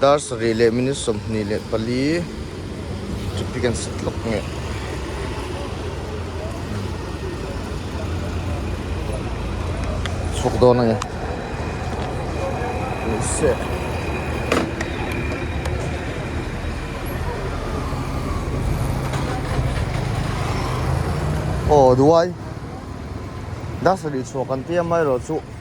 Dar sarih leh minute sawmhnih leh pali traffic an set hlawk ngeh. Chhuk dawn ange. Nihse. Aw duai. Dar sarih chhuak kan tia mai rawh chu.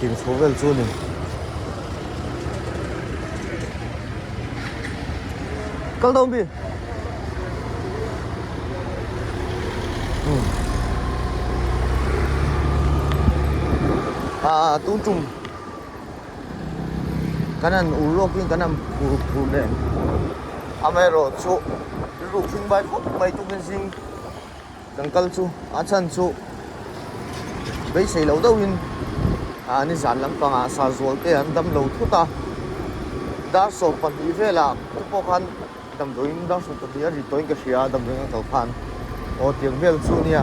Tih inchhuah vel chu ni. Kal deuh mi. Hmm. A a tung tum. Kan an ur lawk in kan an phur phur nen. Amaherawhchu rilru tling bai fawp mai tukin zing. Kan kal chu a chhan chu beisei lo deuh in an i zan lampang ah sa zual te an dam lo thut a. Dar sawm pahnih vel ah te pawh khan damdawi in dar sawm pahnih a rit tawh in ka hria a damdawi ngang kal khan aw tiang vel chu nia.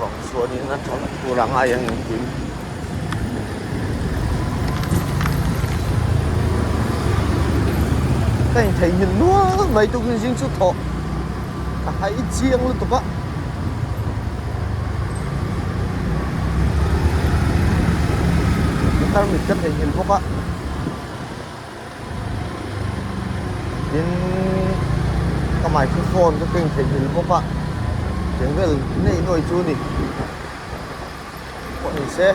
vang chuanin a chhang tur ang a eng ang tih ka intheihhmel nual mai tukin zing chu thawh ka hai chiang lutuk a tarmit ka theihhmel bawk a tin ka mah chu phone ka keng thei hil bawk a tiang vel nei nuai chu ni pawh ni se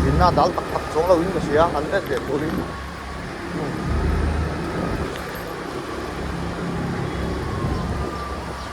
dinna dal tak tak chuang lo in ka hria han ret leh tur in hmm.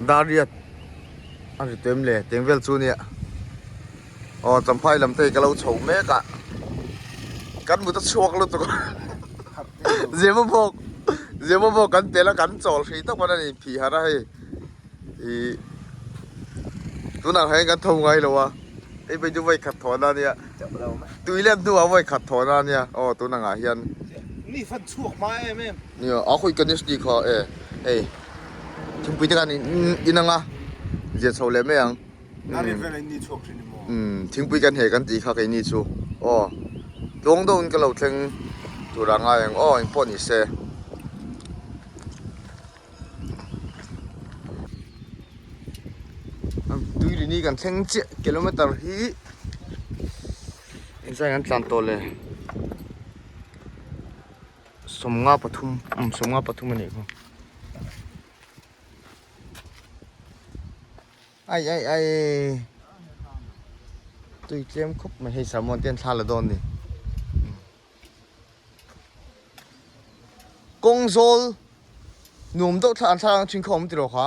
Dariat a ri tuem le teng vel chu nia aw Champhai lam te hi ka lo chho mek a kan mut a chhuak lutuk a Zimawbawk Zimawbawk kan pe la kan chawl hri tawp a ni phih har a hei ih tunah hian kan tho ngai lo a hei phei chu vawi khat thaw na nia tui lem hnu ah vawi khat thaw na nia aw tunah hian ni fan chhuak hma em em nia a hawi ka ni si kha e hei Thingpuite khan in anga lian chho leh mai ang. A rian vela in ni chhuak thin emaw? Umm thingpui ka hne kan tih kha kei ni chu aw tlawng deuh in ka lo thleng tur a ngai ang aw engpawh ni se. Tuirin hi kan thleng chiah kilometer hi engzai an tlan tawh le. sawmnga pathum umm sawmnga pathum a nih khaw ai ai ai tui tlem khawp mai hei sermon ten thla la dawn ni kawng zawl nuam deuh thla an thla lang thin kha awm tilo kha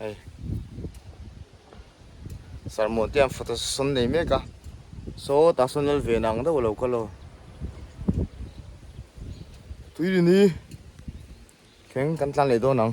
hei sarmawh te ang photo sawn nei mek a saw tah sawn lal ve nang deuh lo ka lo tuirin hi kheng kan tlan leh dawn ang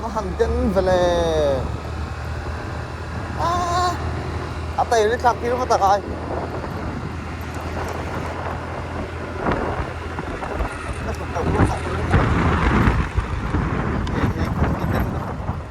Ka han ten vele ah a tail tlak tir va tak ai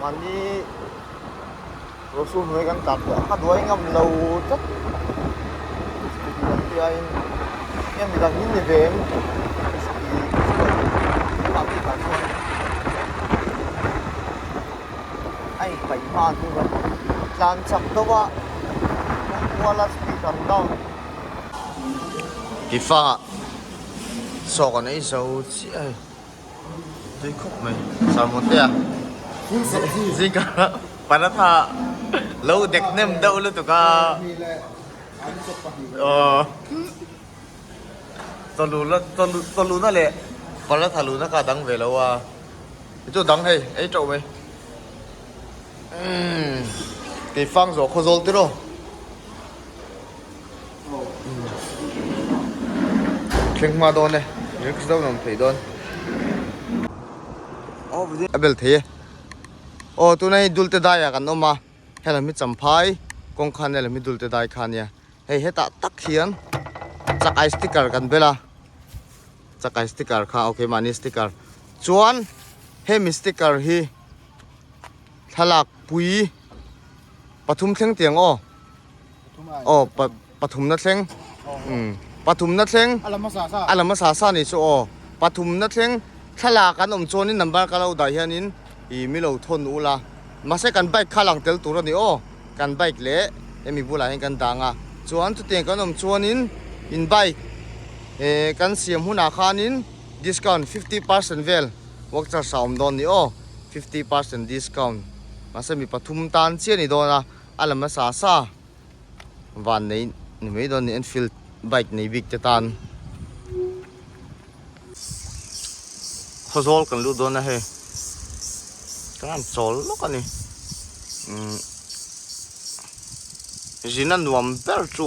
Mahni Rosu hnuai kan tlak teh a duai ngam lo tlat Sti lam piaiin eng mi dang in ni ve em Sti Sti lam bik ah chuan a in paih hma an ni bawk a tlan chak deuh a pawm kual a Sti tam dang tifa sawk an ei zo chiah. Tui khawp mai Salmon te ah Zingka paratha lo dek nem deuh lutuk a Chaw luna leh paratha luna kha dang ve lo a Hi chu dang hei ei teuh mai Umm Tei fang zawh khaw zawl tiraw. thleng hma dawn e risks deuh nawm theih dawn a bel thei e aw tuna hei dulte daiah kan awm a hela mi champhai kawng khan nen la mi dulte dai kha nia hei hetah tak hian chakai sticker kan bel a chakai sticker kha ok mahni sticker chuan hemi sticker hi thlalakpui pathum thleng tiang aw. aw pathumna thleng umm pathumna thleng a la hmasa sa ni chu aw pathumna thleng thlalak kan awm chuan in number ka lo dah hian in ih milo thawn u la mahse kan bike kha a lang tel tur a ni aw kan bike leh hemi bulah hian kan dang a chuan chutiang kan awm chuan in in bike eh kan siam hunah khan in discount fifty percent vel vouchers a awm dawn ni aw fifty percent discount mahse mi pathum tan chiah a ni dawn a. A lam nasa sa van nei ni mai dawn a ni Enfield bike nei bik te tan khaw zawl kan lut dawn a hei kan han chawl lawk a ni zin a nuam ber chu.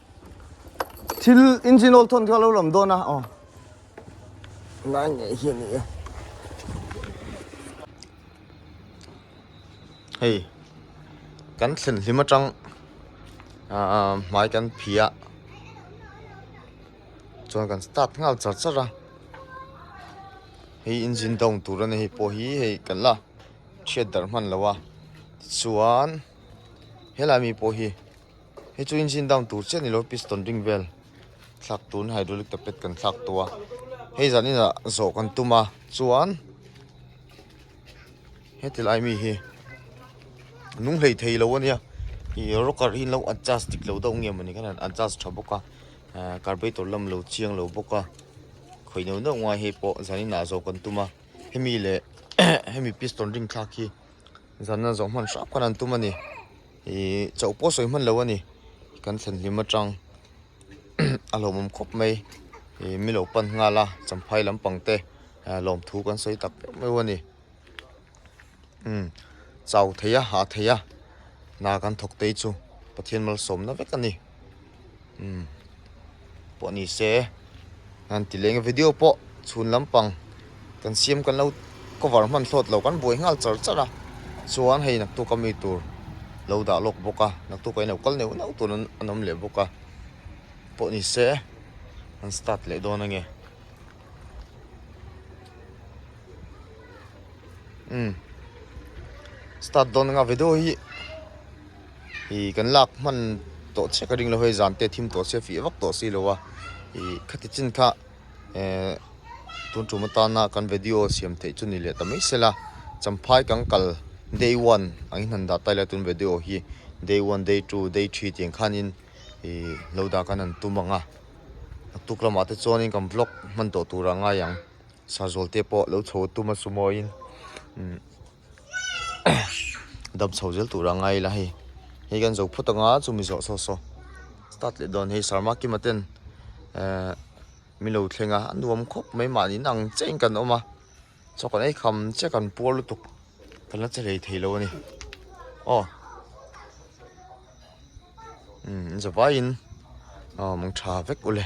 thil engine oil thawn kha lo lam dawn a aw oh. ngai ngai hi ni e hei kan thlen hlim atang a ah, ah, mai kan phia chuan kan start ngal char char a hei engine down tur a ni hei pawh hi hei kan la thiat darh hman lo a chuan helai mi pawh hi Hei chu engine down tur chiah a ni lo piston ring vel thlak tun hydraulic ta pet kan thlak tawh a hei zan inah zawh kan tum a chuan heti lai mi hi nung hlei thei lo a nia i rocker hi lo adjust dik lo deuh nge mawni kha han adjust tha bawk a ahh carburetor lam lo chiang lo bawk a khawi neuh neuh ngai hei pawh zan inah zawh kan tum a hemi leh hemi piston ring thlak hi. Zanna zawh hman hrap khan an tum a ni. Ihh chauh pawh sawi hman lo a ni. Kan thlen hlim atang a hlauhawm khawp mai. Ihh mi lo pan nghal a, Champhai lam pang te ah lawmthu kan sawi tak meuh meuh a ni. Umm chau thei a, hah thei a, hna kan thawk te chu Pathian malsawmna vek a ni. umm pawh ni se han ti leng a video pawh chhun lampang kan siam kan lo cover hman thlawt lo kan buai nghal char char a chuan hei naktu ka mi tur lo dah lawk bawk a naktu ka inlo kal neuh neuh tur an awm leh bawk a pawh ni se han start leh dawn a nge umm start dawn anga video hi. ih kan lak hman tawh chiah ka ringlo hei zan te thim tawh sia fih vak tawh silo a ih khati chin kha eh tun tum atana kan video siam theih chu ni leh ta mai sela champhai kan kal day one an inhan dah tai lai a tun video hi day one day two day three tih ang khanin ih lo dah ka han tum ang a atuk lamah te chuanin kan vlog hman tawh tura ngai ang sazawl te pawh lo chho tum a sumoin umm. dam chho zel tur a ngai ila hei hei kan zo phawt anga chu mi zawh saw saw start leh dawn hei sarma kima ten ehh milo thlenga an nuam khawp mai mah niin ang che in kan awm a chaw kan ei kham che kan puar lutuk kan la che hlei thei lo a ni aw umm za vai in aw mawng tha vek ula.